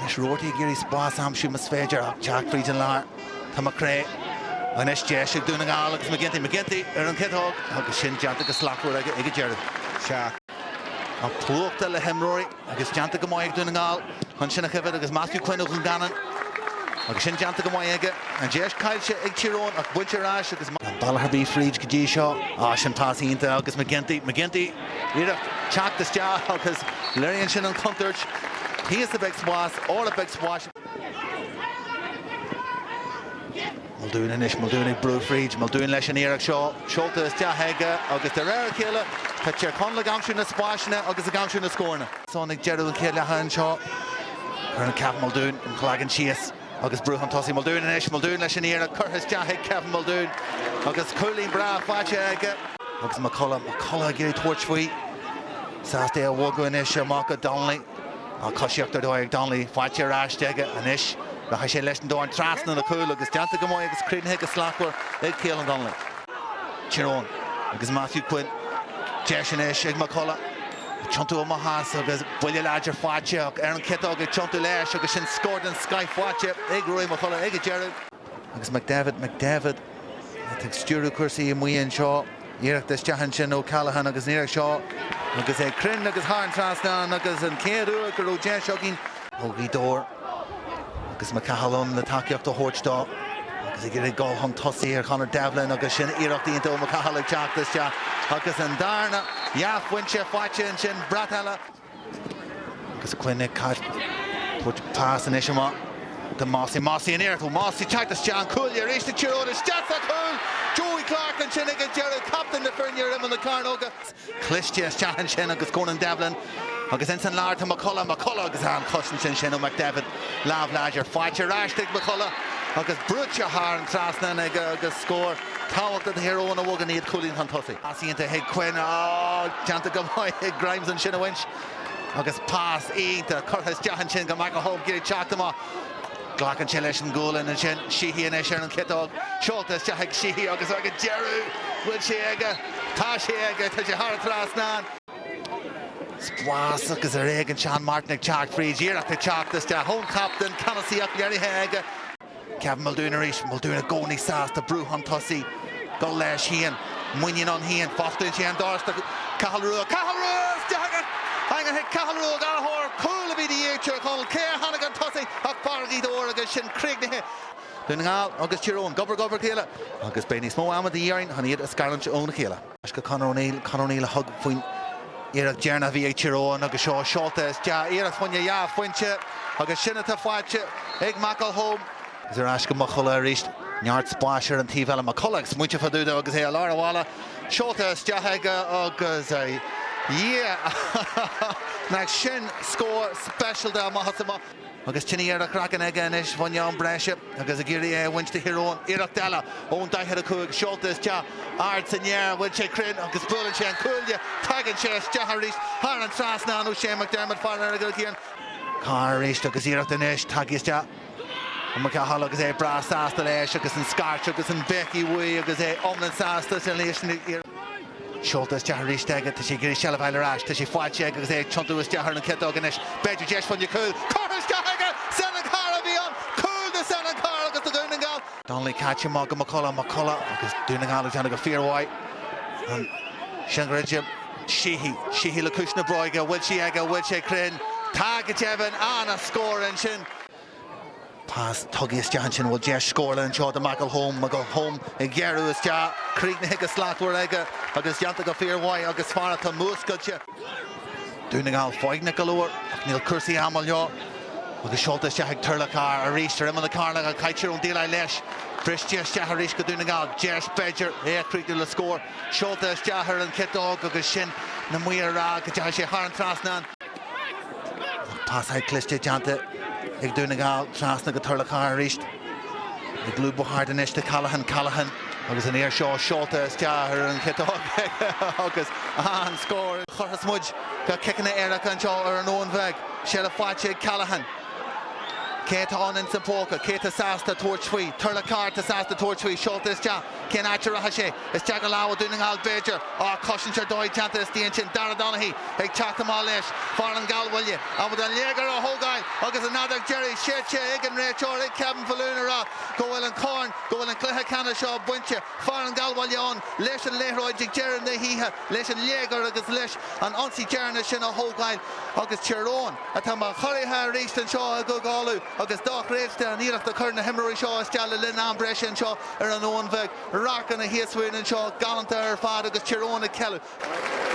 Anois Roarty ag iarraidh spás a aimsiú más féidir ag teacht fríd an lár. Tá McCrea anois, deis ag Dún na nGall agus McGinty. McGinty ar an chiotóg agus sin déanta go slachtmhar aige ag an deireadh. Tá an plúchta le himreoirí agus déanta go maith ag Dún na nGall chun sin a choimhead agus Matthew Quinn ó Dhún Geanainn agus sin déanta go maith aige. An deis caillte ag Tír Eoghain ach bainte ar ais agus. Gan bealach ar bith fríd go dtí seo. Á, sin pas iontach agus McGinty. McGinty. iarracht teacht isteach agus léiríonn sin an chontúirt thíos a bheidh spás, thall beidh spás. Muldoon anois, Muldoon ag brú fríd, Muldoon leis an iarracht seo, seolta isteach aige agus de réir a chéile tá Tír Chonaill ag aimsiú na spásanna agus ag aimsiú na scóranna. Ag deireadh an chéad leatha anseo, cuireann Kevin Muldoon a chloigeann síos. Agus brú chun tosaigh Muldoon anois, Muldoon leis an iarracht curtha isteach ag Kevin Muldoon agus cúilín breá faighte aige. Agus McCullough, McCullough ag iarraidh tabhairt faoi, sásta é a bhogadh anois amach go Donnelly, á, coisíocht ar dóigh ag Donnelly, faighte ar ais aige anois, rachaidh sé leis an dorn trasna an chúil agus déanta go maith agus críochnaithe go slachtmhar ag Caolan Donnelly. Tír Eoghain agus Matthew Quinn, deis anois ag McCullough. Ag tiontú amach as agus buille láidir faighte ar an chiotóg ag tiontú leis agus sin scór den scoith faighte ag Ruairí McCullough ag an deireadh. Agus McDevitt, McDevitt atá ag stiúradh cúrsaí amuigh anseo. Iarracht isteach ansin ó Callaghan agus an iarracht seo agus é cruinn agus thar an trasnán agus an chéad uair go raibh deis againn, Ó Ghaoth Dobhair agus McCahill ann le tacaíocht a thabhairt dó agus ag iarraidh gabháil chun tosaigh ar Chonor Devlin agus sin iarracht iontach ó McCahill ag teacht isteach agus an darna dhá phointe faighte ansin brat eile agus Quinn ag tabhairt pas anois amach do Mossey, Mossey an iarracht ó Mossey teacht isteach an cúilín arís do Thír Eoghain isteach sa chúl Joey Clarke ansin ag an deireadh captaen na foirne ar imeall na cearnóga. cliste isteach ansin agus Conan Devlin agus ins an lár tá McCullough, McCullough agus an chosaint ansin ó McDevitt, lámh láidir faighte ar ais chuig McCullough agus brúite thar an trasnán aige agus scór tábhachtach do Thír Eoghain a bhogann iad cúilín chun tosaigh. Pas iontach chuig Quinn, á, déanta go maith ag Grimes ansin a bhaint agus pas iontach curtha isteach ansin go McElholm ag iarraidh teacht amach. Glacann sé leis an ghualainn ansin. Sheehy anois ar an chiotóg. Seolta isteach ag Sheehy agus ag an deireadh bhfuil sé aige? Tá sé aige! Tá sé thar an trasnán. Spás agus ar éigean Seán Martin ag teacht fríd. Iarracht ag teacht isteach ón chaptaen. Ceannasaíocht léirithe aige. Kevin Muldoon arís. Muldoon i gcónaí sásta brú chun tosaigh. Dul leis féin, muinín ann féin, fosclaíonn sé an doras do Chathal Ruadh. Cathal Ruadh! Isteach san eangach ag Cathal Ruadh Ó Gallchóir, cúl a bhí de dhíth ar Thír Chonaill. Cé a tháinig chun tosaigh ach fear Ghaoth Dobhair agus sin críochnaithe. Dún na nGall agus Tír Eoghain, gob ar ghob le chéile agus beidh níos mó ama de dhíth orainn chun iad a scarúint óna chéile. Ar ais go Conor O'Neill, Conor O'Neill a thug faoin iarracht dheireanach a bhí ag Tír Eoghain agus seo seolta isteach, iarracht fá choinne dhá phointe agus sin atá faighte ag McElholm. Is ar ais go McCullagh arís. Neart spáis ar an taobh eile. McCullagh ag smaointeamh fá dtaobh dó agus é i lár an bhealaigh. Seolta isteach aige agus, a Dhia! Nach sin scór speisialta amach is amach! Agus tine ar a chraiceann aige anois faoin am breise agus ag iarraidh é a bhaint do Thír Eoghain. Iarracht eile ón daichead a cúig. Seolta isteach. Ard san aer. An bhfuil sé cruinn? Agus buaileann sé an cuaille. Tagann sé isteach arís. Thar an trasnán ó Shea McDermott. Faraor go cian. Carr arís agus iarracht anois tagtha isteach. Ag McCahill agus é breá sásta leis agus an scairt agus an bhéicigh uaidh agus é iomlán sásta ansin leis an iarracht. Seolta isteach arís aige, tá sé ag iarraidh seilbh a fháil ar ais, tá sé faighte aige agus é ag tiontú isteach ar an chiotóg anois, b'fhéidir deis fá choinne cúil, curtha isteach aige, Seanán Carr a bhí ann, cúl do Sheanán Carr agus do Dhún na nGall. Donnelly caite amach go McCullagh, McCullagh agus Dún na nGall ag déanamh go fíormhaith ansin go raibh de Sheehy, Sheehy le ciumhais na bróige, bhfuil sí aige, bhfuil sé cruinn, tá go deimhin, an-scór ansin. Pas tugtha isteach ansin, bhfuil deis scórála anseo do McElholm, McElholm ag gearradh isteach, críochnaithe go slachtmhar aige agus déanta go fíor mhaith agus fear atá múscailte. Dún na nGall foighneach go leor ach níl cúrsaí ama leo agus seolta isteach ag Turlough Carr arís ar imeall na cearnóige ach caitear ón dtaobh leis. Briste isteach arís go Dún na nGall, deis b'fhéidir é a chríochnú le scór. Seolta isteach ar an chiotóg agus sin na Maoir a rá go dteachaidh sé thar an trasnán. Pasáil chliste déanta ag Dún na nGall trasna go Turlough Carr arís. Ag lúbadh thart anois do Callaghan. Callaghan. Agus an uair seo seolta isteach ar an chiotóg agus an scór a chuirfeas muid go ciceanna éirice anseo ar an Abhainn Bheag. Seilbh faighte ag Callaghan. Cé atá ann ins an phóca? Cé atá sásta tabhairt faoi? Turlough Carr atá sásta tabhairt faoi. Seolta isteach. Cén áit a rachadh sé? Isteach i lámha Dhún na nGall b'fhéidir ach cosaint ar dóigh déanta istigh ansin, Darragh Donaghy ag teacht amach leis, fear an Ghallbhaile, ábalta an léigear a thógáil agus an fheadóg deiridh séidte ag an réiteoir ag Kevin Faloon a rá go bhfuil an corn, go bhfuil an cluiche ceannais seo bainte, fear an Ghallbhaile ann leis an liathróid ag deireadh na hoíche leis an léigear agus leis an ionsaí deireanach sin a thógáil agus Tír Eoghain, atá mar churaithe arís anseo, i gCúige Uladh. agus dochreidte an iarracht a chuir na himreoirí seo isteach le linn am breise anseo ar an Abhainn Bheag. Radharcanna thíos fúinn anseo galánta ar fad agus Tír Eoghain ag ceiliúradh.